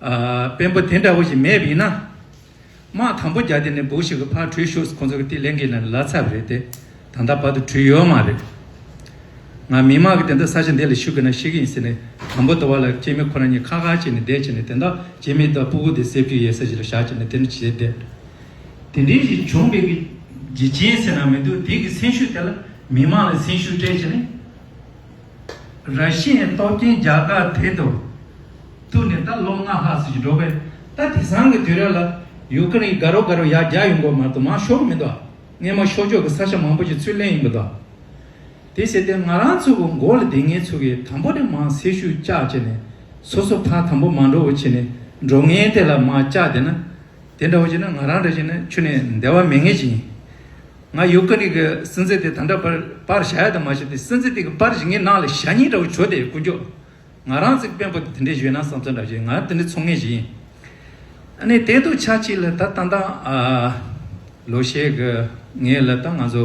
དཔོན་པོ་དེ་འདྲ་བོ་ཞིག་མེད་པ་ཡིན་ན། དམག་དམ་པོ་བརྒྱ་དེ་ནས་འབུག་ཞིག་གི་ཕར་བྲུས་ཤོག་ཁོ་ཚོ་གི་དེ་གླེང་གི་ལ་ལ་ཚ་བ་རེད་དེ་ད་ལྟ་བར་དུ་བྲུས་ཡོད་མ་རེད། ང་མི་མང་གི་དེ་འདྲ་ས་ཆ་འདི་ལ་ཞུགས་གི་ན་ཞིག་ཡིན་ཟེར་ནས་དམ་པོ་དོ་བ་ལ་སྐྱེས་མི་ཁོ་རང་གཉིས་ཁ་ཁ་བྱས་ནས་བསྡད་བྱས་ནས་དེ་འདྲ་བྱེད་མི་དང་སྤུ་གུ་དེ་སེབ་རྒྱུ་ཡས་ས་ཞིག་ལ་བཞག་བྱས་ནས་དེ་འདྲ་བྱས་བསྡད། དེ་འདྲའི་ཞིག་བྱུང་བས་གི་རྗེ་ཅན་ཟེར་ན་མི་འདུག་དེ་གི་སེམས་ཤུགས་དེ་ལ་མི་མང་ལ་སེམས་ཤུགས་སྤྲད་བྱས་ནས། ར་ཤི་ཡའི་སྟོབས་ཆེན་རྒྱ་གར་དེ་དུ་ཐུག་ནས་ད་ལོ་ལྔ་ལྷག་ཟིན་གྱི་འགྲོ་པས་ད་དེ་སང་གི་དུས་ར་ལ་ཡུག་ཀེ་རེན་གི་ག་རོ་ག་རོ་ཡག་རྒྱག་ཡོང་དགོས་མ་གཏོགས་མ་ཤོར་མི་འདུག་སྔས་མ་ཤོར་ཕྱོགས་ཀྱི་ས་ཆ་མང་པོ་ཞིག་ཚུར་ལེན་ཡོང་གི་འདུག་དེ་ཟེར་ཏེ་ང་རང་ཚོ་གི་མགོ་ལ་དེ་ངེད་ཚོ་གི་དང་པོ་དེ་མ་སེར་ཤུགས་བཅག་བྱས་ནས་སོ་སོ་ཕ་དང་པོ་མ་འགྲོ་བོ་བྱས་ནས་འགྲོ་ངན་དེ་ལ་མ་བཅག་དེ་ན་དེ་འདྲ་བོ་བྱས་ན་ང་རང་འདྲ་བྱས་ན་ཆུ་ནས་འདེ་བ་མེད་ངེས་ཅི་ཡིན། ང་ཡོ་ཀ་རིག་གི་སེམས་ཚེ་དེ་ད་འདྲ་པར་པར་བྱ་ཡ་དང་མ་བྱ་དེ་སེམས་ཚེ་དེ་གི་པར་བྱེད་ངའི་ནང་ལ་ཞྭ་སྙིང་འདྲ་བོ་བྱོ་དེ་ཀུན་ཀྱོག་ང་རང་ཚིག་དཔོན་པོ་དེ་དེ་འདྲའི་བཞོན་ན་བསམ་ཚོད་འདྲ་བྱེད་ང་དེ་འདྲའི་ཚོང་ངེ་ཞིག་ཡིན་ཨ་ནི་དེ་འདུག་ཆ་གཅིག་ལ་ད་ད་ད་ལོ་ཤས་གི་ངེས་ལ་ད་ང་ཚོ་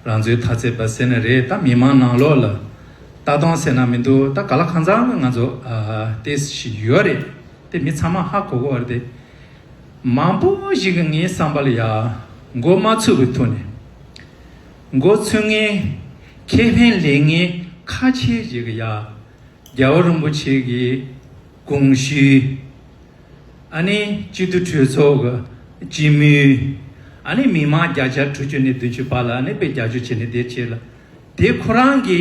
རང་ཚོའི་ཐ་ཚད་པར་ཟེར་ན་རེད་ད་མི་མང་ནང་ལོག་ལ་ད་གཏོང་ཟེར་ན་མི་འདུག་ད་ག་ལ་ཁང་ཚང་ང་ཚོ་ཨ་ཏེ་ཞིག་ཡོ་རེད་དེ་མི་ཚང་མ་ཧ་གོ་གོ་བར་དེ། མང་པོ་ཞིག་གིས་ངའི་བསམ་པར་ཡར་མགོ་མ་ཚུགས་པའི་ཐོག་ནས། མགོ་ཚུགས་ངེས། ཁེ་ཕན་ལེན་ངེས་ཁ་ཆེ་ཞིག་ཡར་རྒྱལ་བ་རིན་པོ་ཆེ་གི་དགོངས་གཞིའི། ཨ་ནི་སྤྱི་འཐུས་གྲོས་ཚོགས་ཀྱི་སྤྱི་མོས། ཨ་ནི་མི་མང་བརྒྱ་ཆ་དྲུག་ཅུ་ནས་བདུན་ཅུ་བར་ལ་ཨ་ནི་དཔེ་རྒྱ་ཆོད་བྱས་ནས་བསྡད་ཅེས་ལ། དེ་ཁོ་རང་གི་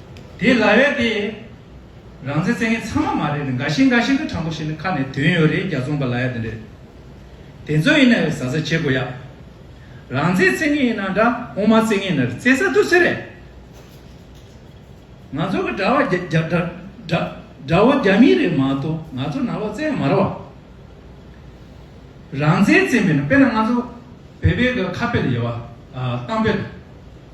དེ་ལ་བས་ཏེ། རང་བཙན་བཙན་མཁན་ཚང་མ་མ་རེད་ནི་འགའ་ཤེས་འགའ་ཤེས་འདྲ་དྲང་པོ་བཤད་ནི་ཁ་ནས་དོན་ཡོད་རེད་རྒྱ་རྫོང་པ་ལ་ཡ་དེ་འདྲས། དེ་ཚོ་ཡིན་ན་བས་ཟ་ཟ་བྱེད་དགོས་ཡ། རང་བཙན་བཙན་མཁན་ཡིན་ན་འདྲ་དབུ་མ་བཙན་མཁན་ནི་རེད་བཙན་ས་འདུག་ཚེ་རེད། ང་ཚོ་གི་དྲ་བ་རྒྱ་དྲ་དྲ་དྲ་བོ་རྒྱ་མི་རེད་མ་གཏོགས་ང་ཚོ་ནང་ལོག་བཙན་མ་རེད་བ། རང་བཙན་བཙན་པས་ན་དཔེར་ན་ང་ཚོ་བོད་པའི་གི་ཁ་དཔེ་ལ་ཡོད་བ། གཏམ་དཔེ་ལ།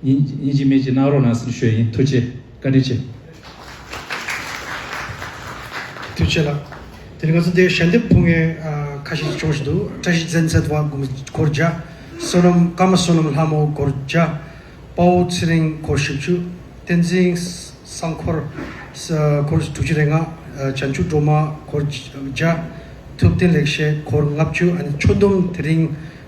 སྙིང་རྗེ་མེད་ཅེས་གནང་རོགས་གནང་སེམས་ཞོལ་ཡིན་ཐུགས་རྗེ་བཀའ་དྲིན་ཆེ། ཐུགས་ཆེ་ལགས། དེ་ནི་ང་ཚོ་འདིར་ཞལ་འདེབས་ཕུལ་མཁན་ཁ་ཤས་ཤིག་བྱུང་བཞིན་འདུག་བཀྲ་ཤིས་བཙན་ཚད་དབང་དགུང་གོར་བརྒྱ། བསོད་ནམས་བཀའ་མ་བསོད་ནམས་ལྷ་མོ་གོར་བརྒྱ། དཔའ་བོ་ཚེ་རིང་གོར་བཞི་བཅུ། བསྟན་འཛིན་བསང་འཁོར་གོར་དྲུག་ཅུ་རེ་ལྔ། བྱང་ཆུབ་སྒྲོལ་མ་གོར་བརྒྱ། ཐུབ་བསྟན་ལེགས་བཤད་གོར་ལྔ་བཅུ། ཨ་ནི་ཆོས་འདོམས་དེ་རིང།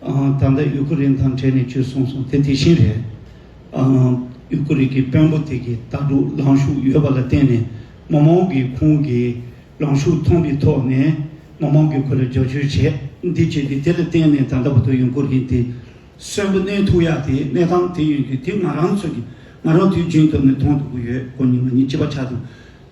ད་ལྟ་ཡུ་ཀུ་རེན་དང་འབྲེལ་ནས་བྱོས་གསུངས་སོང་དེ་དེ་བཞིན་རེད། ཡུ་ཀུ་རེན་གྱི་དཔོན་པོ་དེ་གི་ལྟ་གྲུབ་ལངས་ཤུགས་ཡོད་པ་ལ་བརྟེན་ནས་མི་མང་གི་ཁོང་གི་ལངས་ཤུགས་མཐོང་གི་ཐོག་ནས་མི་མང་གི་ཁོ་ལ་རྒྱབ་སྐྱོར་བྱས་འདི་བྱས་ཏེ་དེ་ལ་བརྟེན་ནས་ད་ལྟ་བར་དུ་ཡུ་ཀུ་རེན་དེ་གསོན་པོ་གནས་ཐུག་ཡག་དེ་གནས་སྟངས་དེ་ཡོད་རྒྱུ་དེ་ང་རང་ཚོ་གི་ང་རང་དུས་རྒྱུན་སྟབས་ནས་མཐོང་ཐུབ་གི་ཡོད་གོ་ཉི་མ་གཉིས་ཅི་བ་ཆགས་འདུག་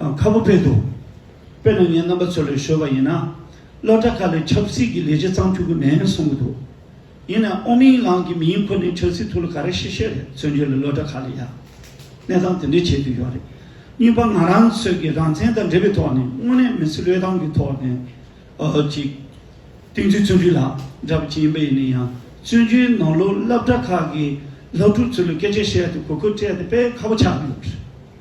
དང་ཁ་པོ་བས་འདུག་དཔེར་ན་ངའི་རྣམ་པ་ཚོ་ལས་ཤོར་བ་ཡིན་ན། སློབ་གྲྭ་ཁག་ལས་ཆབ་སྲིད་ཀྱི་ལས་བྱེད་གཙང་ཕྱུག་གི་མེད་གསུང་གི་འདུག་ཡིན་ནའང་ཨོ་མིང་ལང་གི་མིང་འཁུར་ནས་ཆབ་སྲིད་ཐུགས་ལ་ག་རེ་བཤད་བཤད་རེད་བཙོན་འཇུག་ལས་སློབ་གྲྭ་ཁག་ལས་ཡག་གནས་སྟངས་དེ་འདྲས་བྱེད་དུ་ཡོད་རེད་གཉིས་པ་ང་རང་ཚོས་ཀྱི་རང་བཙན་དང་འབྲེལ་བའི་ཐོག་ནས་དངོས་གནས་མི་ཚེ་བློས་བཏང་གི་ཐོག་ནས་ཀྱི། སྟེང་འཛུལ་བཙོན་འཇུག་ལ་འདྲ་བ་ཅི་ཡིན་པ་ཡིན་ན་ཡང་བཙོན་འཇུག་ནང་ལོགས་སླབ་གྲྭ་ཁག་གི་ལྷག་ཕྲུག་ཚོ་ལ་སྐད་ཆ་བཤད་དེ་གོ་སྐབས་སྤྲད་དེ་དཔེ་ཁ་པོ་ཆགས་ཀྱི་ཡོད་རེད།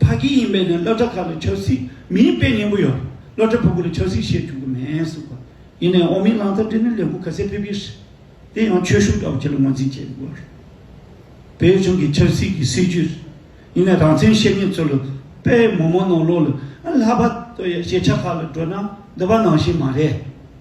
ཕ་གི་ཡིན་པས་ནི་སློབ་གྲྭ་ཁག་ལ་ཆབ་སྲིད་མི་ཡིན་དཔེ་ངན་པོ་ཡོད། སློབ་གྲྭ་བུ་གུ་ལ་ཆབ་སྲིད་བཤད་བཅུག་གི་མེད་གསུང་པ། ཡིན་ནའི་ཨོ་མིན་ལང་ཚ་འདི་ནི་ལས་འགུལ་ག་ཚད་ཕེབས་ཀྱི་རེད། དེ་ཡང་ཆོས་གཞུང་ལྟ་བུ་ཁྱེད་ལ་ངོས་འཛིན་བྱས་ཡོད་པ་རེད། བོད་གཞུང་གི་ཆབ་སྲིད་ཀྱི་སྲིད་བྱུས་རེད། ཡིན་ནའི་རང་བཙན་བཤད་མཁན་ཚོ་ལ་དཔེ་མོ་མོ་ནང་ལོག་ལ་ལྷ་པ་ལྟོས་ཡ་ཞེ་ཆགས་ཁག་ལ་བགྲོས་ན་འདི་པ་ནང་བཞིན་མ་རེད།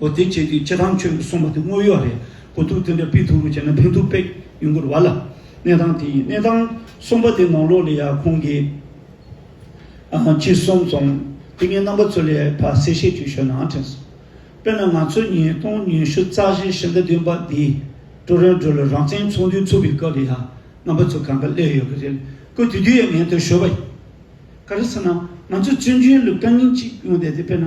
ཨོ་དེ་བྱེད་དུས་ཅི་ཐང་ཆོས་ཀྱི་གསུངས་པ་དེ་དངོས་ཡོད་རེད་གོ་ཐུག་དེ་འདྲ་ཕིག་ཐུག་རུ་བྱས་ན་ཕན་ཐུག་པེད་ཡུན་གུར་བ་ལ་གནས་ཐང་དེ་ཡི་གནས་ཐང་གསུངས་པ་དེ་ནང་ལོག་ལས་ཡག་ཁོང་གི་ཅི་གསུངས་སོང་དེ་ངའི་རྣམ་པ་ཚོ་ལས་ཕ་གསལ་བཤད་རྒྱུ་ཞོ་ནང་དྲན་སོང་དཔེར་ན་ང་ཚོ་ཉིས་སྟོང་ཉི་ཤུ་རྩ་བཞི་ཕྱི་ཟླ་བདུན་པ་འདི་ཀྲོ་རོན་ཀྲོ་ལ་རང་བཙན་ཚོགས་འདུ་ཚུགས་པའི་སྐབས་ལ་ཡང་རྣམ་པ་ཚོ་གང་འདྲ་སླེབས་ཡོད་ཀྱི་རེད་ཀོ་དེ་དུས་ཡང་ངས་འདིར་ཞོ་བ་ཡིན་ག་རེ་ཟེར་ན་ང་ཚོ་བཙོན་འཇུག་ལུགས་དང་ཉིན་གཅིག་ཡོང་བསྡད་དེ་དཔེར་ན།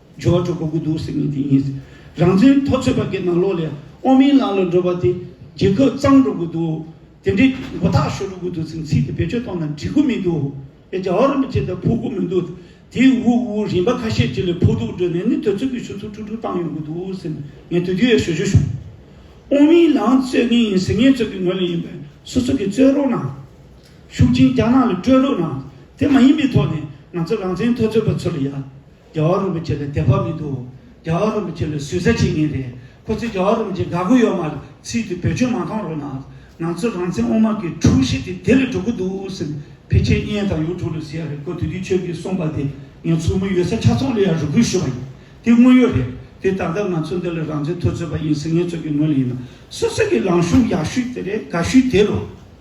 ཇོ་བོ་དྲུག་པོ་དགུ་འདུག་ཟེར་ནི་དེ་ཡིན། རང་བཙན་མཐོ་ཚོད་པ་གི་ནང་ལོགས་ལས་དབང་མིན་ལམ་ལ་འགྲོ་བ་དེ་རྒྱལ་ཁབ་གཙང་འགྲོ་དགོས་འདུག་དེ་འདྲའི་མགོ་ཐག་ཤོར་འགྲོ་དགོས་འདུག་ཟེར་ཚིག་དེ་བེད་སྤྱོད་གཏོང་ན་འགྲིག་གོ་མི་འདུག་ཨེ་རྒྱ་བོ་རིན་པོ་ཆེ་དང་ཕུག་གོ་མི་འདུག་དེ་དབུགས་དབུགས་རིམ་པ་ཁ་ཤས་དེ་ལས་ཕུག་དུག་སྒྲོལ་ནས་ནི་དོལ་ཚོགས་ཀྱི་ཞུ་ཚུགས་ཁྲུག་ཁྲུག་བཏང་ཡོང་དགོས་འདུག་ཟེར་ནས་ངས་དུས་དེ་བས་ཞོ་ཞོ་བྱུང། དབང་མིན་ལམ་རྩོད་མཁན་ཡིན་ཟེར་ངེད་ཚོ་གི་ངོས་ལ་ཡིན་པས་སོ་སོ་གི་རྩོད་རོགས་གནང། ཤུགས་ཆེན་རྒྱ་ནག་ལ་སྤྲོད་རོགས་གནང་དེ་མ་ཡིན་པའི་ཐོག་ནས་ང་ཚོ་རང་བཙན་མཐོ་ཚོད་པ་ཚོ་ལ་ཡ། རྒྱ་བ་རིན་པོ་ཆེ་ལ་དད་པ་མི་འདུག་རྒྱ་བ་རིན་པོ་ཆེ་ལ་ཟུས་ཟ་བྱེད་ངེས་རེད་ཁོ་ཚོས་རྒྱ་བ་རིན་པོ་ཆེ་དགའ་གུ་ཡོད་མ་ཚིག་དེ་བེད་སྤྱོད་མ་གཏོང་རོགས་གནང་ང་ཚོ་རང་བཙན་དབུ་མ་གི་དྲུག་བཞི་དེ་དེ་ལས་འགྲོ་གི་འདུག་ཟེར་ཕལ་ཆེར་བརྙན་དང་ཡུ་ཐུག་ལ་ཟེར་ཡ་རེད་ཁོ་དེ་དུས་ཆོས་ཀྱི་གསུངས་པ་དེ་ངས་ཚུར་མི་ཡོད་ས་ཆ་ཚང་ལ་ཡང་རེ་སྐུལ་ཞུས་པ་ཡིན་དེ་དངོས་ཡོད་རེད་དེ་ད་ལྟ་ང་ཚོ་འདི་ལ་རང་བཙན་ཐོས་ཚོད་པ་ཡིན་ཟེར་ངན་ཚོད་ཀྱི་ངོས་ལ་ཡིན་ན་སོ་སོ་གི་ལངས་ཤུགས་ཡག་ཤུས་དེ་རེད་དགའ་ཤུས་དེ་རོ།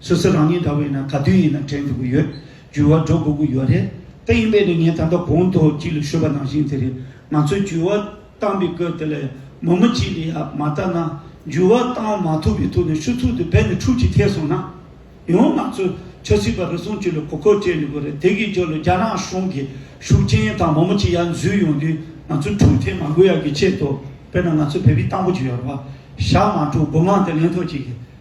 སོ་སོ་རང་ཉིད་འདྲ་བོ་ཡིན་ན་ག་དུས་ཡིན་ན་དྲན་འཇུག་གི་ཡོད་འགྱུར་བ་འགྲོ་དགོས་ཀྱི་ཡོད་རེད་ད་ཡིན་པས་ནི་ངས་ད་ལྟ་གོང་དུ་གཅིག་ལ་ཤོད་པ་ནང་བཞིན་དེ་རེད་ང་ཚོས་འགྱུར་བ་བཏང་པའི་སྐབས་དེ་ལ་མུ་མུ་གཅིག་ལ་ཡ་མ་བལྟ་ན་འགྱུར་བ་བཏང་མ་ཐུབ་པའི་ཐུགས་ནས་ཤུགས་ཐུགས་དེ་བས་ནི་འཁྲུག་ཅིག་ཐེབས་སོང་ན་ཡང་ང་ཚོས་ཆབ་སྲིད་པ་རེ་ཟུང་གཅིག་ལ་གོ་སྐབས་སྤྲད་ནུས་པ་རེད་དེ་གའི་རྒྱུ་ལ་རྒྱ་ནག་གཞུང་གི་ཤུགས་རྐྱེན་དང་མུ་མུ་གཅིག་ཡར་འཛུལ་ཡོང་དུས་ང་ཚོས་འཁྲུག་ཐེབས་མ་དགོས་ཡག་གི་ཆེད་དུ་དཔེར་ན་ང་ཚོས་བལ་བི་སྟངས་པོ་གཅིག་ཡོད་རེད་བ་ཞག་མ་དྲུག་དགུ་མང་དེ་ལེན་ཐོག་གཅིག་གི་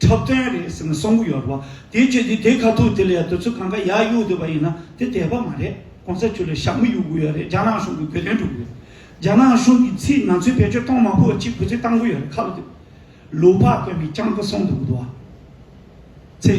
འཁྲབ་སྟོན་རེད་ཟེར་ནས་གསུང་གི་ཡོད་པ། དེའི་ཆོས་ཀྱི་དེ་ཁ་ཐུག་དེ་ལས་དེ་ཚོ་གང་ག་ཡག་གཡུག་འདོད་པ་ཡིན་ན་དེ་དད་པ་མ་རེད་གོང་ས་ཆོས་ལས་ཞབས་མི་གཡུག་གི་ཡོད་རེད་རྒྱ་ནག་གཞུང་གི་གོས་དོན་སྒྲུབ་གི་ཡོད་རྒྱ་ནག་གཞུང་གི་ཚིག་ང་ཚོའི་བེད་སྤྱོད་གཏོང་མ་ཕོད་ཅིག་བུ་ཚོས་བཏང་གི་ཡོད་རེད་ཁ་ལོ་བསྡུས། ལུག་ཕག་དཔོན་པའི་སྤྱང་ཀི་གསུང་འདུག་གི་འདུག་བ། ཚེ།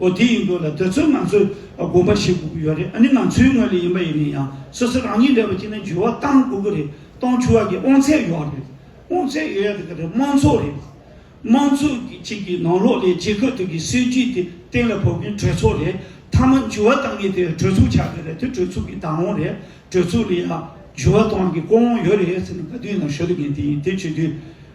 ཨོ་དེ་ཡིན་འདུག་ལ་དེ་ཚོས་ང་ཚོས་དགོངས་པ་བཞེས་དགོས་ཀྱི་ཡོད་རེད་ཨ་ནི་ང་ཚོའི་ངོས་ལས་ཡིན་པ་ཡིན་ནས་ཡང་སོ་སོ་རང་ཉིད་འདྲ་བའི་སྤྱི་ནས་འགྱུར་བ་གཏང་དགོས་ཀྱི་རེད་གཏོང་ཆུ་བ་གི་དབང་ཚད་ཡོད་རེད་དབང་ཚད་ཡོད་ཡ་དེ་ག་རེད་དམངས་ཚོགས་རེད་དམངས་ཚོགས་ཀྱི་གཅིག་གི་ནང་ལོགས་ལས་བྱེད་ཁ་ཐུག་གི་སྲིད་ཇུས་དེ་གཏན་ལ་ཕབ་མཁན་གྲོས་ཚོགས་རེད་མཐའ་མ་འགྱུར་བ་གཏང་མཁན་དེ་གྲོས་ཚོགས་ཆགས་ཀྱི་རེད་དེ་གྲོས་ཚོགས་ཀྱི་བདག་དབང་རེད་གྲོས་ཚོགས་ལས་ཡང་འགྱུར་བ་གཏོང་རྒྱུ་ཀྱི་ཀོ་དབང་ཡོད་རེད་ཟེར་ནས་ག་དུས་ནང་ཤོད་དགོས་མཁན་དེ་ཡིན་དེ་བྱེད་དུས་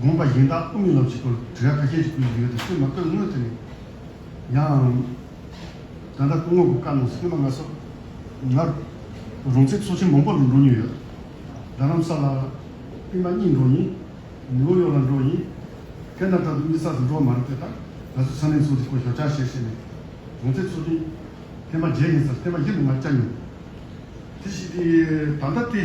དགོངས་པ་གཞན་དག་དབུ་མའི་ལོ་རྒྱུས་སྐོར་དྲི་བ་གལ་ཆེན་ཞིག་ཕུལ་གྱི་ཡོད་དུ་སེམས་མ་བཀོད་དངོས་དེ་ནི། ཡང། ད་ལྟ་སྐུ་ངོ་བོ་བཀའ་གནང་སེམས་མ་ང་སོགས་ནར། རུང་ཚེ་ཚོགས་ཆེན་མང་པོ་ལ་འགྲོ་མྱོང་ཡོད། རྡ་རམ་ས་ལ། པི་མ་གཉིས་འགྲོ་ཡིན། ནིའུ་ཡོག་ལ་འགྲོ་ཡིན། ཀན་ན་ད་དུ་གཉིས་གསར་དུ་འགྲོ་བ་མ་རེད་དེ་དག་ང་ཚོས་ས་གནས་ཚོགས་སྡེ་སྐོར་ཞོར་བསྐྱར་བཤད་བྱས་ནས། རུང་ཚེ་ཚོགས་ཆེན། ཐེངས་མ་བརྒྱད་ཡིན་སར་ཐེངས་མ་བཞི་དུ་ང་བཅར་མྱོང། དེ་བཞིན་དེ་ད་ལྟ་དེ།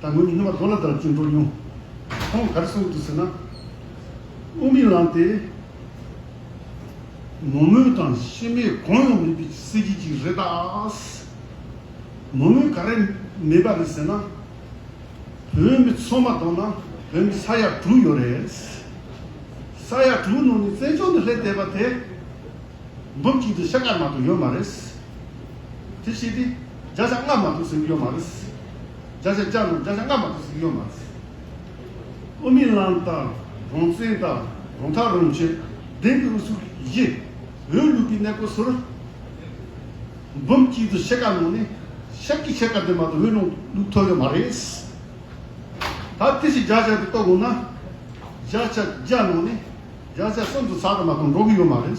ད་ངོས་ཀྱི་སྣོན་པ་རྡོ་ལ་ལྟར་བཅུད་འགྲོ་སྙུང། ཁོང་གར་སོང་དུ་ཟེར་ན། དབུགས་མི་ལངས་ཏེ། མོ་རྨོས་དང་ཤི་རྨས་གང་ཡང་མེད་པའི་གསེར་གྱི་ཅིག་རེད་ད། མོ་རྨོས་ག་རེ་མེད་པ་རེད་ཟེར་ན། བོད་མི་ཚོ་མ་གཏོགས་ན་བོད་མི་ས་ཡ་དྲུག་ཡོད་རེད། ས་ཡ་དྲུག་ནང་ནས་བཙན་བྱོལ་ནས་སླེབས་བསྡད་པ་དེ། འབུམ་གཅིག་དང་ཕྱེད་ཀ་མ་གཏོགས་ཡོད་མ་རེད། དེ་བྱས་ཏེ། བརྒྱ་ཆ་ལྔ་མ་གཏོགས་ཟིན་གྱི་ཡོད་མ་རེད། བརྒྱ་ཆ་བརྒྱ་རྣམས་བརྒྱ་ཆ་ལྔ་མ་གཏོགས་ཟིན་གྱི་ཡོད་མ་རེད། ཨོ་མི་ལང་དང་རང་བཙན་དང་རང་ཐག་རང་གཅོད་བདེན་གྱི་ཨུ་ཚུགས་ཀྱི་གཞི། འོས་བླུག་པའི་གནས་སྐོར་ཟུར་འབུམ་གཅིག་ཏུ་ཕྱེད་ཀ་གནང་ནས་ཤར་གྱི་ཕྱེད་ཀ་དེ་མ་གཏོགས་འོས་ལུང་ལུགས་ཐོབ་ཡོད་མ་རེད། ད་དེ་བཞིན་བརྒྱ་ཆ་དེ་གཏོགས་དགོས་ན་བརྒྱ་ཆ་བརྒྱ་གནང་ནས་བརྒྱ་ཆ་གསུམ་དུ་ཚགས་དུ་མ་གཏོང་འགྲོ་གི་ཡོད་མ་རེད།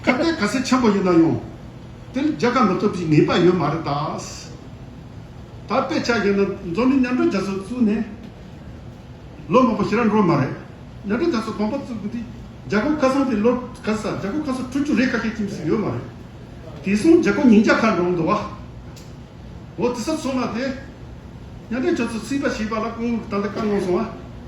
སྐབས་དེར་ག་ཚད་ཆེན་པོ་ཡིན་ན་ཡང། དེ་ནི་རྒྱལ་ཁ་འགྲོ་ཐུབ་ཀྱི་ངེས་པ་ཡོད་མ་རེད་ད། ད་དཔེ་ཆ་ཡིན་ན་འཛམ་གླིང་མཉམ་སྒྲུབ་རྒྱ་མཚོ་བཙུགས་ནས་ལོ་མང་པོ་ཞིག་རག་འགྲོ་མ་རེད། མཉམ་སྒྲུབ་རྒྱ་མཚོ་གོང་པོ་བཙུགས་དགོས་དུས་རྒྱ་གོ་ཁ་སང་དེ་ལོར་ག་ས་རྒྱ་གོ་ཁ་སོ་དྲུག་ཅུ་རེ་ཁ་ཤས་ཁྱིམ་སོ་ཡོད་མ་རེད། དེ་སོང་རྒྱ་གོ་ཉིང་རྒྱ་ཁ་འགྲོ་འདུག་བ། འོ་དེ་སབ་སོང་ན་དེ། མཉམ་སྒྲུབ་རྒྱ་མཚོ་བརྩིས་པ་ཞེས་པ་ལ་ཀོང་ལུགས་ད་ལྟ་བཀའ་གནང་སོང་བ།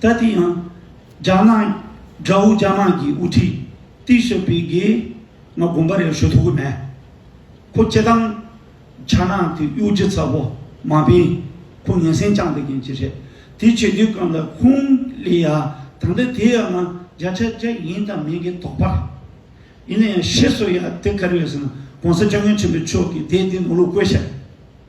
ད་དེ་ཡང་རྒྱ་ནག་དགྲ་བོ་རྒྱ་ནག་གི་དབུ་ཁྲིད་ཏི་ཤོ་པི་གིས་ང་དགོངས་པ་རེ་ཞུ་ཐུབ་ཀི་མེད། ཁོ་སྤྱི་བཏང་རྒྱ་ནག་གི་གཡོ་སྒྱུ་ཚ་བོ་མ་སྤེན་ཁོ་ངན་སེམས་བཅངས་དགོས་མཁན་ཅི་རེད་དེ་བྱེད་དུས་གང་ལ་ཁུང་ལི་ཡ་ད་ལྟ་དེ་ཡང་ང་རྒྱ་ཆ་རྒྱ་ཡིན་དང་མིན་གི་དོགས་པ་རེད། ཡིན་ན་ཡང་ཤེས་སོ་ཡ་དེ་ག་རེ་ཡོད་ཟེར་ན་གོང་ས་སྐྱབས་མགོན་ཆེན་པོའི་ཆོས་ཀི་དེ་དེ་ནོར་ལུག་བཀོད་ཤག་རེད།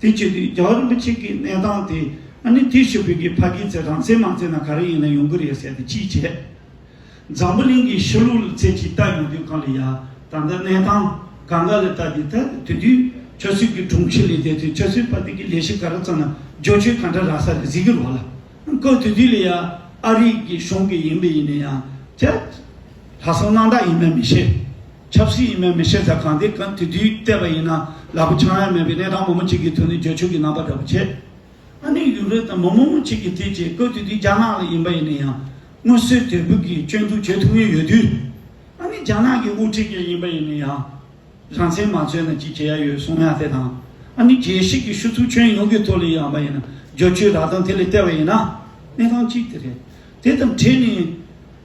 དེ་བྱས་དུས་རྒྱ་གར་རིན་པོ་ཆེ་གིས་གནས་སྟངས་དེ་ཨ་ནི་དེ་ཞུ་བོད་ཀྱི་ཕ་གིའི་ཚེ་དྲང་ཚེ་མང་ཚེ་ན་ག་རེ་ཡིན་ན་ཡོང་གི་རེད་ཟེར་ཏེ་ཅི་བྱས། འཛམ་བུ་གླིང་གི་ཕྱི་ལུགས་ལ་ཚེ་ཇི་ལྟ་ཡོང་དུས་གང་ལ་ཡ་ད་ལྟ་གནས་སྟངས་ག་འགའ་ལ་ལྟ་དེ་ལྟ་དེ་དུས་ཁྱོད་ཚོས་ཀྱི་དྲུང་ཆེ་ལས་བསྡད་དུས་ཁྱོད་ཚོའི་ཕ་གི་གི་ལས་ཤིག་ག་རེ་བརྩམས་ན་རྗོ་ཆོས་ག་འདྲ་རག་ས་རེད་ཟེར་གྱི་རོགས་ལ་ཀོ་དེ་དུས་ལ་ཡ་ཨ་རིག་གི་གཞུང་གི་ཡིན་པས་ཡིན་ན་ཡང་ཁྱད་ལྷ་སོ་སྣང་དག་ཡིན་མེད་མི་ཤེས། ཆབ་སྲིད་ཡིན་མིན་མི་ཤེས་ཟེར་གང་དེ་གང་དེ་དུས་བལྟས་པ་ཡིན་ན་ལག་པ་འཆང་ཡ་མེད་པའི་གནས་སྟངས་མོ་མོ་གཅིག་གིས་ཐོས་ནས་འགྱོད་ཆོས་ཀྱི་རྣམ་པ་འདྲ་པོ་བྱས། ཨ་ནེ་ཡུག་རེད་དམ་མོ་མོ་མོ་གཅིག་གིས་དེ་བྱས་ཁོས་དེ་དུས་རྒྱ་ནག་ལ་ཡིན་པ་ཡིན་ན་ཡང་སྔོན་བསོད་དད་བུ་གིས་སྐྱོན་འཛུགས་བྱེད་ཐུབ་ངེས་ཡོད་དུས། ཨ་ནེ་རྒྱ་ནག་གི་དབུ་ཁྲིད་ཅིག་ཡིན་པ་ཡིན་ན་ཡང་རང་བཙན་མ་རྩོད་ན་ཅི་བྱེད་ཡ་ཡོད་གསུང་ཡ་དེ་དང་ཨ་ནེ་རྒྱལ་སྲིད་ཀྱི་ཤུ་ཚུགས་ཁྱོན་ཡོངས་ཀྱི་ཐོག་ལས་ཡང་པ་ཡིན་ན་འགྱོད་ཆོས་རག་སྟངས་དེ་ལས་བལྟས་པ་ཡིན་ན་གནས་སྟངས་གཅིག་དེ་རེད། དེ་དང་འཕྲད་ནས།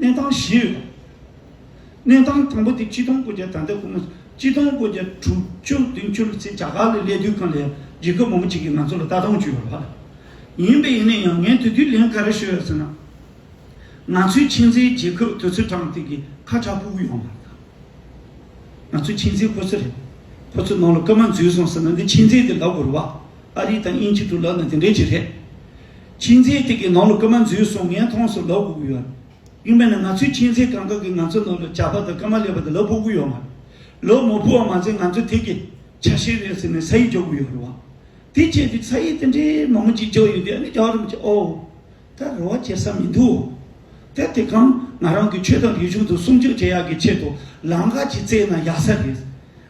གནས་སྟངས་བཞི་ཡོད་དོ། གནས་སྟངས་དང་པོ་དེ་སྤྱི་སྟོང་སྒོ་བརྒྱ་ད་ལྟ་ཁོ་མོ་སྤྱི་སྟོང་སྒོ་བརྒྱ་དྲུག་བཅུ་བདུན་བཅུ་ལོ་ཚེ་རྒྱ་གར་ལས་ལས་དུས་ཁང་ལས་རྒྱལ་ཁབ་མང་པོ་ཅིག་གིས་ང་ཚོ་ལ་ལྟ་སྟངས་བཅོས་པར་ལྷག་ལ། ཡིན་པས་ཡིན་ན་ཡང་ངས་དེ་དུས་ལན་ག་རེ་ཞུས་ཡོད་ཟེར་ན། ང་ཚོའི་མཁྱེན་བརྩེའི་རྒྱལ་ཁབ་དུས་ཚོད་དྲངས་དེ་གི་ཁ་ཁྲ་སྤུ་གུ་ཡོང་བར་གདའ། ང་ཚོའི་མཁྱེན་བརྩེ་ཁོ་ཚོ་རེད། ཁོ་ཚོའི་ནང་ལ་སྐར་མ་འཛུལ་སོང་ཟེར་ན་འདི་མཁྱེན་བརྩེ་དེ་ལ་བོར་བ་ཨ་རི་དང་དབྱིན་ཇི་དུ་ལབ་ན་དེ་འདྲས་ཅིག་རེད། ཁྱིམ་མཚེས་དེ་གའི་ནང་ལོ་སྐར་མ་འཛུལ་སོང་ངས་མཐོང་སོང་ལབ་དགོས་ཀྱི་ཡོད། ཡིན་པས་ན་ང་ཚོའི་ཁྱིམ་མཚེས་གང་དག་གིས་ང་ཚོའི་ནང་ལོ་བྱ་བ་དང་སྐར་མ་ལས་པ་དེ་ལབ་དགོས་ཀྱི་ཡོད་མ་རེད། ལོ་མོ་འཕུར་བ་མ་ཚད་ང་ཚོས་དེ་གའི་ཆ་ཤས་རེད་ཟེར་ནས་ས་ཡིག་འཇོག་དགོས་ཡོད་རེད་བ། དེ་བཅས་ཀྱི་ས་ཡིག་དེ་འདྲའི་མང་པོ་ཅིག་འཇོག་ཡོད་དུས་ཨ་ནེ་རྒྱག་རིམ་གྱིས་ཨོའོ། ད་རེ་བ་བྱེད་ས་མི་འདུག་ཨོ། དེ་གམ་ང་རང་གིས་ཁྱོད་དང་རིག་གཞུང་དུ་སྲུང་སྐྱོབ་བྱེད་ཡག་གི་ཆེད་དུ་ལམ་ཁ་ཅིག་བཙལ་ན་ཡག་ས་རེད།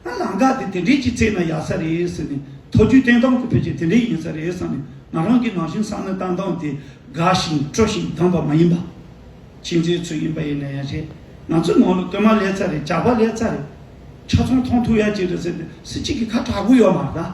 ད་ལམ་ཀ་དེ་དེ་འདྲའི་ཅི་ཚེགས་ན་ཡག་ས་རེད་ཟེར་ནས་མཐོ་རྒྱུའི་བསྟན་སྟངས་དེ་ཕལ་ཆེར་དེ་འདྲའི་ཡིན་ས་རེད་བསམ་ནས་ང་རང་གིས་ནང་བཞིན་བསམ་ན་བསྟན་སྟངས་དེ་དགའ་ཞིང་སྤྲོ་ཞིང་དྭངས་པ་མ་ཡིན་པ། ཕྱི་མཛེས་ཚོས་ཡིན་པ་ཡིན་ན་ཡང་རེད་ང་ཚོའི་ནང་ལོ་དོན་མ་ལེགས་ཚ་རེད་བྱ་བ་ལེགས་ཚ་རེད་ཆ་ཚང་མཐོང་ཐུག་ཡག་ཅིག་རེད་ཟེར་ནས་སུ་གཅིག་གིས་ཁ་གྲག་གོ་ཡོད་མ་རེད།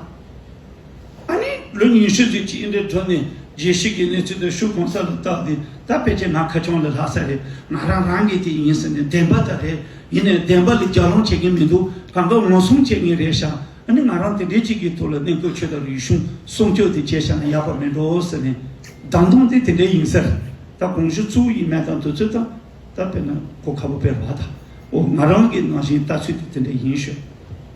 ལོ་ཉི་ཤུ་ཟིན་གྱི་ཨིན་དྲའི་སྒྲོན་མེ་རྒྱས་བཤད་ཀྱི་གནས་ཚུལ་དེ་ཤུགས་གང་ས་ལ་བཏགས་ཏེ་ད་དཔེ་ཆའི་ནང་ཁ་ཆུང་ལ་ལྷག་ས་རེད་ང་རང་རང་གིས་དེ་ཡིན་ཟེར་ནས་བདེན་པ་དག་རེད་ཡིན་ནས་བདེན་པ་ལས་རྒྱག་ལོང་བྱེད་མཁན་མི་འདུག་གང་དགའ་ངོ་སྲུང་བྱེད་མཁན་རེད་ཤག་ཨ་ནི་ང་རང་དེ་འདྲའི་ཅིག་གི་ཐུགས་ལ་གནས་དགོས་ཆོས་དང་རིག་གཞུང་སྲུང་སྐྱོབ་དེ་བྱས་ཤག་ན་ཡག་པ་མེད་འགྲོ་ཟེར་ནས། བདམས་ཐོང་དེ་དེ་འདྲའི་ཡིན་ས་རེད་ད་གོང་ཞུ་ཚུལ་ཡིན་མེད་དང་འདོད་ཚུལ་དང་ད་དཔེར་ན་གོ་ཁ་པོ་སྤེལ་བ་དང་འོ་ང་རང་གིས་ནང་བཞིན་ལྟ་ཚུལ་དེ་དེ་འདྲའི་ཡིན་ཞུ།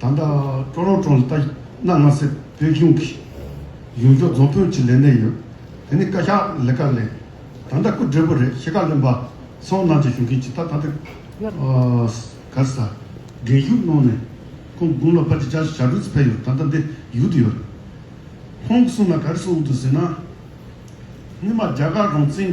ད་ལྟ་ཀྲོ་ལོ་གྲོང་ལ་ལྟ་ན་ང་སི་བོད་གཞུང་གི་གཞུང་ཕྱོགས་རྫོང་དཔོན་གྱི་ལས་གནས་ཡོད། དེ་ནི་བཀའ་ཤག་ལས་ཀ་ལས། ད་ལྟ་སྐུ་བགྲེས་པོ་རེད་ཤེས་བཀའ་བློན་པ་སོགས་ནང་ཆེན་གཞུང་གི་ཇི་ལྟ་ད་ལྟ་ག་ས་རྒན་བཞུགས་གནང་ནས་ཁོང་དགུང་ལོ་བར་གྱི་བཅར་ཞབས་རུས་ཕེབས་ཡོད་ད་ལྟ་འདི་ཡུལ་དུ་ཡོད། ཁོང་གསུང་ན་ག་རེ་གསུང་འདུག་ཟེར་ན། སྔོན་མ་རྒྱ་གར་རང་བཙན།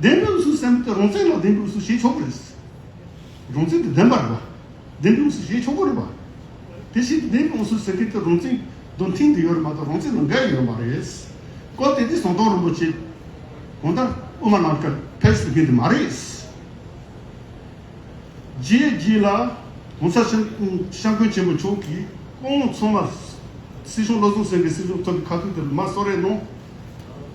བདེན་གྲུབ་སུ་སེམས་དེ་རང་བཙན་ལ་བདེན་གྲུབ་སུ་བྱེད་ཆོག་གི་རེད། རང་བཙན་དེ་བདེན་པ་རེད། བདེན་གྲུབ་སུ་བྱེད་ཆོག་གི་རེད། དེ་བཞིན་དུ་བདེན་གྲུབ་སུ་ཟེར་མཁན་དེ་རང་བཙན་རྡུང་མཁན་དེ་ཡོད་རེད་མ་གཏོགས་རང་བཙན་ལ་འགལ་ཡོད་མ་རེད། སྐོར་དེ་དུས་ཟངས་མདོག་རིན་པོ་ཆེ་གང་ལྟར་དབུ་མ་ནང་ཁྲལ་ཕེབས་ཟེར་མཁན་དེ་མ་རེད། རྗེས་རྗེས་ལ་གོང་ས་ཤ་མཁོན་ཆེན་པོ་མཆོག་གིས་སྐུ་ངོ་ཚང་མར་སྲིད་གཞུང་བློ་བཟང་སེང་གེ་སྲིད་གཞུང་ཐོབ་པའི་ཁ་ཐུག་དེ་ལ་མ་གསོལ་རས་གནང།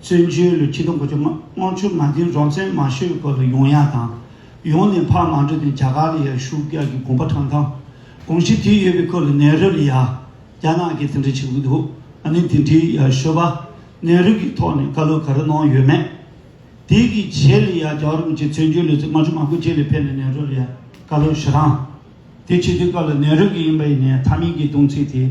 བཙན་བྱོལ་ལོ་ཆིག་སྟོང་དགུ་བཅུ་སྔོན་ཆུ་མ་འཛིན་རོང་བཙན་མ་ཤོད་དགོས་པའི་ཡོང་ཡ་དང། ཡོང་ནས་འཕགས་མ་འགྲོ་དོན་རྒྱ་གར་ལ་ཡར་བཞུགས་རྒྱ་གི་དགོངས་པ་དྲངས་དང། དགོངས་གཞི་དེ་ཡོད་པའི་སྐོར་ལ་ནེ་རོ་ལ་ཡར་རྒྱ་ནག་གིས་དེ་འདྲ་བྱེད་ཀྱི་འདུག་ཨ་ནི་དེ་འདྲའི་ཡར་བཤོད་པ་ནེ་རོ་གིས་ཐོག་ནས་བཀའ་སློབ་ག་རེ་གནང་ཡོད་མེད། དེ་གི་རྗེས་ལ་ཡར་རྒྱ་རོང་བཅས་བཙན་བྱོལ་ལོ་ཚིགས་མ་ཆུ་མ་དགུ་བཅས་ལ་ཕེབས་ནས་ནེ་རོ་ལ་ཡར་བཀའ་སློབ་ཞུ་དང། དེ་བྱེད་དུས་སྐབས་ལ་ནེ་རོ་གིས་ཡིན་པ་ཡིན་ནའི་མཐའ་མིང་གི་གདུང་ཚིག་དེ།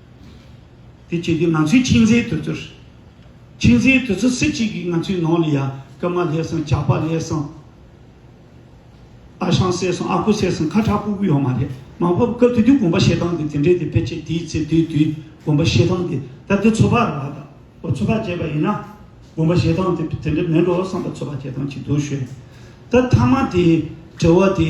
དེ་བྱེད་དུས་ང་ཚོའི་ཁྱིམ་མཚེས་དུ་ཚོད། ཁྱིམ་མཚེས་དུ་ཚོད་སུ་གཅིག་གིས་ང་ཚོའི་ནང་ལ་ཡ་ཀི་མ་ལྷས་སོང་ཇག་པ་ལྷས་སོང། ཨ་ཞང་བསད་སོང་ཨ་ཁུ་བསད་སོང་ཁ་ཁྲག་པུ་པུ་ཡོད་མ་རེད་མང་བབ་སྐབས་དེ་དུས་དགོན་པ་བཤད་སྟངས་དེ་དེ་འདྲའི་དེ་ཕལ་ཆེར་དེའི་ཚེ་དུས་དུས་དགོན་པ་བཤད་སྟངས་དེ་ད་ལྟའི་ཚོ་པ་ར་བ་དང་བོ་ཚོ་པ་བྱས་པ་ཡིན་ན་དགོན་པ་བཤད་སྟངས་དེ་དེ་འདྲ་མེད་འགྲོ་བསམ་པ་ཚོ་པ་བྱས་སྟངས་ཅིག་འདུག་ཞོད་ད་མཐའ་མ་དེའི་དྲི་བ་དེ།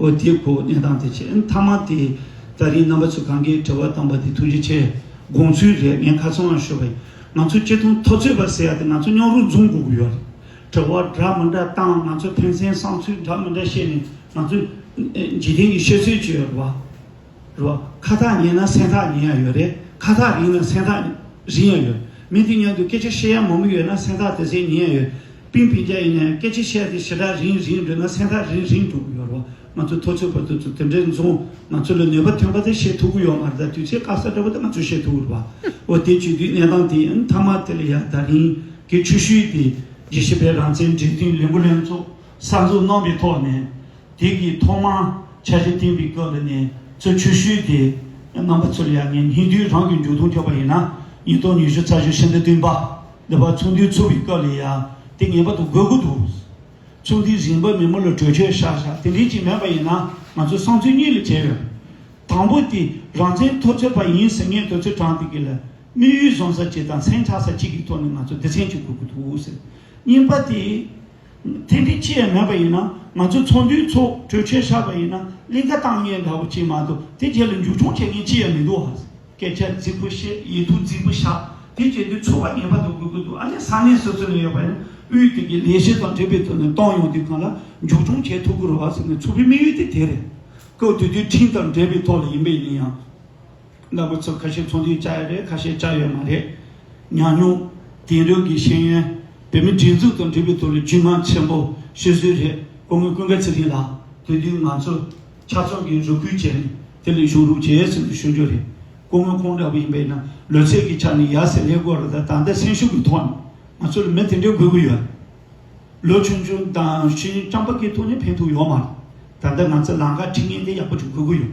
ཨོ་དེ་གོ་གནས་སྟངས་དེ་ཆེས་མཐའ་མ་དེ་ད་རིང་རྣམ་པ་ཚོས་གང་དགའི་བྲེལ་བ་བཏང་པ་དེ་ཐུགས་རྗེ་ཆེ་དགོངས་ཚུལ་རེད་ངས་ཁ་ཚོན་ཡང་ཤོད་པ་ཡིན་ང་ཚོ་སྤྱི་ཐུང་ཐོ་ཚོད་པ་ཟེར་ཡ་དེ་ང་ཚོ་རྙོག་རུ་འཛུམ་དགོས་ཀྱི་ཡོད་རེད་བྲེལ་བ་འདྲ་མི་འདྲ་བཏང་ང་ཚོ་ཕན་སེམས་བསམ་ཚུལ་འདྲ་མི་འདྲ་བཤད་ནས་ང་ཚོ་འཇིག་རྟེན་གྱི་ཤོད་ཚོད་བྱོས་ཡོད་རེད་བ། རོ། ཁ་ཐག་ཉེ་ན་སེམས་ཐག་ཉེ་ཡང་ཡོད་རེད། ཁ་ཐག་རིང་ན་སེམས་ཐག་རིང་ཡང་ཡོད། མི་དེ་མཉམ་དུ་སྐད་ཆ་བཤད་ཡ་མོ་མོ་ཡོད་ན་སེམས་ཐག་དེ་ཚེ་ཉེ་ཡང་ཡོད། པིང་པིང་རྒྱ་ཡིན་ན་ཡང་སྐད་ཆ་བཤད་དེ་ཞེ་དྲག་རིང་རིང་འགྲོ་ན་སེམས་ཐག་རིང་རིང་འགྲོ་གི་ཡོད་རོ། ང་ཚོ་ཐོ་ཚོད་བར་དུ་དེ་འདྲའི་མཚུངས། ང་ཚོ་ལ་ནུས་པ་ཐོན་པ་དེ་བཤད་ཐུབ་ཀི་ཡོད་མ་རེད་ད་དུས་ཚོད་སྐབས་ས་འདྲ་པོ་དེ་ང་ཚོས་བཤད་ཐུབ་ཀི་རེད་བ། འོ་དེ་བྱུས་དུས་གནས་སྟངས་དེ་ཡིན་མཐའ་མ་དེ་ལ་ཡར་ད་རིང་གི་ཆུ་ཤུལ་དེ་རྗེས་ཤེས་པའི་རང་བཙན་འབྲེལ་མཐུད་ལས་འགུལ་ལྷན་ཚོགས། གསར་འཛུགས་གནང་པའི་ཐོག་ནས་དེང་གི་ཐོག་མར་འཆར་གཞི་བཏིང་བའི་སྐབས་འདི་ནས་གཙོད་ཆུ་ཤུལ་དེ་རྣམ་པ་ཚུར་ཡར་ཉིན་ཧིན་དུའི་རང་གི་མཇུག་སྡོམ་ཐོབ་པ་ཡིན་ན་ཉིས་སྟོང་ཉི་ཤུ་རྩ་བཞི་ཧྲན་ཏི་བདུན་པ་འདི་བར་ཚོགས་འདུའི་ཚུགས་པའི་སྐབས་ལས་ཡར་དེ་ངེས་པར་དུ་དགོས་ཀྱི་འདུག་ཚོགས་འདུའི་རིམ་པ་མི་མོ་ལ་གྲོས་ཆོད་ཤག་ཤག་དེ་འདྲའི་ཅིག་མེད་པ་ཡིན་ན་ང་ཚོའི་བསམ་ཚུལ་གཉིས་ལས་བྲལ་བས། དང་པོ་དེ་རང་བཙན་ཐོབ་ཚོད་པ་ཡིན་ཟེར་མཁན་དུ་ཚོད་དྲངས་དེ་ག་ལ་དམིགས་ཡུལ་བཟུང་ས་གཅིག་དང་མཚན་ཆགས་ས་གཅིག་གི་ཐོག་ནས་ང་ཚོ་སྡེ་ཚན་གཅིག་དགོས་ཀྱི་འདུག་ཟེར་གཉིས་པ་དེ། ཐེངས་འདི་ཅི་ཡང་མེད་པ་ཡིན་ན་ང་ཚོའི་ཚོགས་འདུའི་ཚོགས་གྲོས་ཆོད་ཆགས་པ་ཡིན་ན་གླིང་ཁ་བཏང་ངེས་འདྲ་བོ་ཅིག་མ་གཏོགས་དེ་རྗེས་ལ་མཇུག་སྐྱོང་བྱེད་མཁན་ཅི་ཡང་མི་འདུག་ཨ། སྐད་ཆ་རྫིག་པོ་བཤད་ཡིད་དུ་རྫིག་པོ་བཞག་དེ་བྱེད་དུས་ཚོགས་པ་ངེས་པ་དུ་དགོས་ཀྱི་འདུག་ཨ་ནི་ས་གནས་སོ་སོ་ནས་ཡོད་པ་ཡང་དབུས་དེ་གའི་ལས་བྱེད་དང་འབྲེལ་བའི་ཐོག་ནས་གཏོང་ཡོང་དུས་གང་ལ་མཇུག་སྐྱོང་བྱེད་ཐུབ་ཀྱི་རོགས་ཟེར་ནས་ཚོགས་པའི་དམིགས་ཡུལ་དེ་དེ་རེད། སྐབས་དུས་དུས་ཁྲིམས་དང་འབྲེལ་བའི་ཐོག་ལ་ཡིན་པས་ཡིན་ཡང། རླབས་པོ་ཆེ་ཁ་ཤས་ཚོང་དུས་བཅའ་ཡོད་རེད་ཁ་ཤས་བཅའ་ཡོད་མ་རེད། ཉམས་མྱོང། དེང་རབས་ཀྱི་ཤེས་ཡོན། བོད་མི་སྒྲིག་འཛུགས་དང་འབྲེལ་བའི་ཐོག་ལ་རྒྱུས་མངའ་ཆེན་པོ་ཤོད་སྲོལ་རེད་ཁོང་གི་ཀུན་དགའ་ཚེ་རིང་ལགས་དེ་དུས་ང་ཚོ། ཆབ་ཚོང་གི་རུ་ཁུལ་བྱས་ནས་དེ་ལས་བྱུང་རུ་བྱས་ཟེར་ནས་ཤོད་རྒྱུ་རེད། སྐུ་ངོ་ཁོང་འདྲ་བོ་ཡིན་པས་ན་ལོ་ཚད་ཀྱི་ཆ་ནས་ཡར་ཟེར་ལས་དགོས་རེད་ད་ད་ལྟ་སེམས་ཤུགས་ཀྱི་ཐོག་ནས་ང་ཚོ་ལ་མི་དེ་འདྲའི་དགོས་ཀྱི་ཡོད། ལོ་ཆུང་ཆུང་དང་ཤེས་ཡོན་རྐྱང་པ་ཀྱི་ཐོག་ནས་ཕན་ཐོགས་ཡོད་མ་རེད། ད་ལྟ་ང་ཚོ་ལང་ཀ་ཁྲི་ངན་དེ་ཡག་པོ་ཅིག་དགོས་ཀྱི་ཡོད།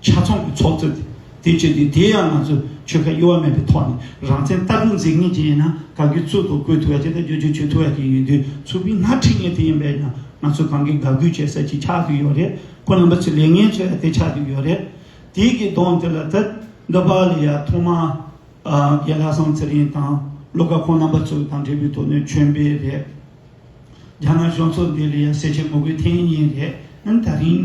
ཆ་ཚང་གི་ཚོགས་གཙོས་དེ་བྱོས་ཏེ་དེ་ཡང་ང་ཚོས་ཆོལ་ཁ་གཡོ་བ་མེད་པའི་ཐོག་ནས་རང་བཙན་ལྟ་གྲུབ་འཛིན་ངེས་ཅན་ཡིན་ན་གང་གི་ཚུལ་དུ་བཀོད་ཐུབ་ཡ་ཅན་དང་བརྗོད་བྱ་བྱོས་ཐུབ་ཡ་ཅན་ཡིན་དུས་ཚུར་མིག་སྔར་འཁྲིད་ངེས་དེ་ཡིན་པས་ན་ང་ཚོས་གང་གི་དགའ་གུས་བྱེད་ས་ཅིག་ཆགས་ཀྱི་ཡོད་རེད་ཁོ་རྣམ་པ་ཚོས་ལས་ངན་བྱེད་ས་དེ་ཆགས་ཀྱི་ཡོད་རེད། དེའི་གི་དོན་དེ་ལ་ཐད་འདི་པ་ལ་ཡ་ཐོག་མ་རྒན་ལྷ་བཟང་ཚེ་རིང་དང་བློ་དགའ་ཁོང་རྣམ་པ་ཚོ་དང་འབྲེལ་བའི་དོ་སྣོད་ཁྱོན་པས་རེད། རྒྱ་ནག་གཞུང་ཚོགས་འདི་ལ་ཡ་གསལ་བྱེད་དགོས་པའི་ཐེངས་གཉིས་རེད་ད་རིང།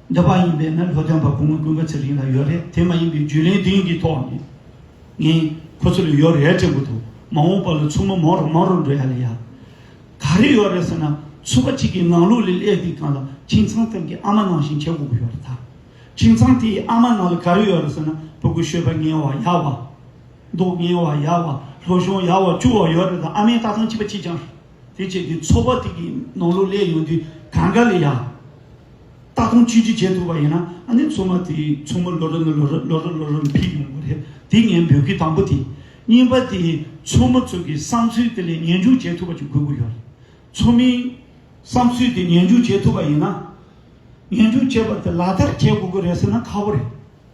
འདི་བ་ཡིན་པས་ན་ལྷོ་བྱང་བར་གུང་མོ་ཀུན་དགའ་ཚེ་རིང་ལ་ཡོད་རེད་དེ་མ་ཡིན་པའི་རྒྱུས་ལེན་དེང་གི་ཐོག་ནས་ངས་ཁོ་ཚོ་ལ་ཡོད་རེད་དྲན་གི་འདུག་མ་འོངས་པ་ལ་ཚུར་མ་མོ་རོ་མོ་རོ་འགྲོ་ཡ་ལ་ཡ། ག་རེ་ཡོད་རེད་ཟེར་ན་ཚུར་པ་གཅིག་གི་ངང་ལུགས་ལས་ཀླད་དེ་གང་ལ་ཁྱིམ་ཚང་སྟེང་གི་ཨ་མ་ནང་བཞིན་བྱེད་དགོས་པ་ཡོད་རེད་ད། ཁྱིམ་ཚང་དེ་ཡི་ཨ་མ་ནང་ལ་ག་རེ་ཡོད་རེད་ཟེར་ན་བུ་གུ་ཤོད་པ་ངན་བ་ཡ་བ། མདོག་ངན་བ་ཡ་བ་ལྷོ་གཞོང་ཡ་བ་བཅུ་བ་ཡོད་རེད་ད་ཨ་མའི་ལྟ་སྟངས་སྐྱིད་པ་སྐྱིད་ཀྱང་རེད། དེ་བཅས་ཀྱི་ཚོགས་པ་ཐིག་གི་ནང་ལོགས་ལས་ཡོང་དུས་གང་ག་ལ་ཡང། ལྟ་སྟངས་ཅི་ཅི་བྱེད་ཐུབ་པ་ཡིན་ན་ཨ་ནེ་ཚོགས་མ་དེ་ཚོགས་མ་ལོ་རེ་ནས་ལོ་རེར་ལོ་རེར་ལོ་རེར་འཕེལ་ཡོང་གི་རེད་དེ་ངས་འབོད་སྐུལ་དང་པོ་དེ་ཡིན། པ་དེ་ཚོགས་མ་ཚོ་གི་བསམ་ཚུལ་དེ་ལས་ཉན་འཇུག་བྱེད་ཐུབ་པ་ཅིག་དགོས་ཀྱི་ཡོད་རེད། ཚོགས་མིའི་བསམ་ཚུལ་དེ་ཉན་འཇུག་བྱེད་ཐུབ་པ་ཡིན་ན། ཉན་འཇུག་བྱས་པ་དེ་ལག་བསྟར་བྱེད་དགོས་ཀྱི་རེད་ཟེར་ན་ཁག་པོ་རེད།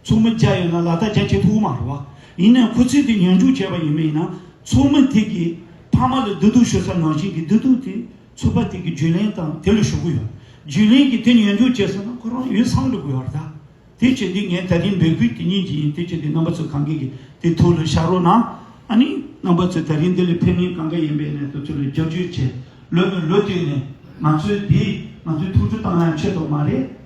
ཚོགས་མི་བརྒྱ་ཡོད་ན་ལ་དྭགས་རྒྱ་ཁྱི་ཐུག་མ་རེད་བ། ཡིན་ནའི་ཁོ་ཚོས་དེ་ཉོན་འཇུག་བྱས་པ་ཡིན་མིན་ཡིན་ན་ཚོགས་མི་དེ་གིས་ཕ་མ་ལ་བདུད་སྡུག་ཤོད་ས་ནང་བཞིན་གྱི་བདུད་སྡུག་དེ་ཚོད་པ་དེ་གི་རྒྱུས་ལེན་དང་དེ་ལ་ཞུ་གི་ཡོད། རྒྱུས་ལེན་གྱིས་དེ་ཉོན་འཇུག་བྱས་ཟེར་ན་ཁོ་རང་ཡོད་སངས་འགྲོ་གི་ཡོད་རེད་ད། དེ་བྱས་འདི་ངས་ད་རིང་འབོད་སྐུལ་དེ་ཉིད་ཀྱི་ཡིན་དེ་བྱས་འདི་རྣམ་པ་ཚོས་གང་གི་གི་དེ་ཐུགས་ལ་བཞག་རོགས་གནང། ཨ་ནི་རྣམ་པ་ཚོས་ད་རིང་འདི་ལ་ཕན་ངེས་གང་ག་ཡིན་པའི་གནས་ཐུགས་ཚོད་ལ་རྒྱབ་སྐྱོད་བྱས་ལོས་ནི་ལོས་དུས་ནས་ང་ཚོས་འདི་ང་ཚོའི་ཐུགས་ཁྲོ་བཏང་ཡང་ཆོད་ཐོག་མ་རེད།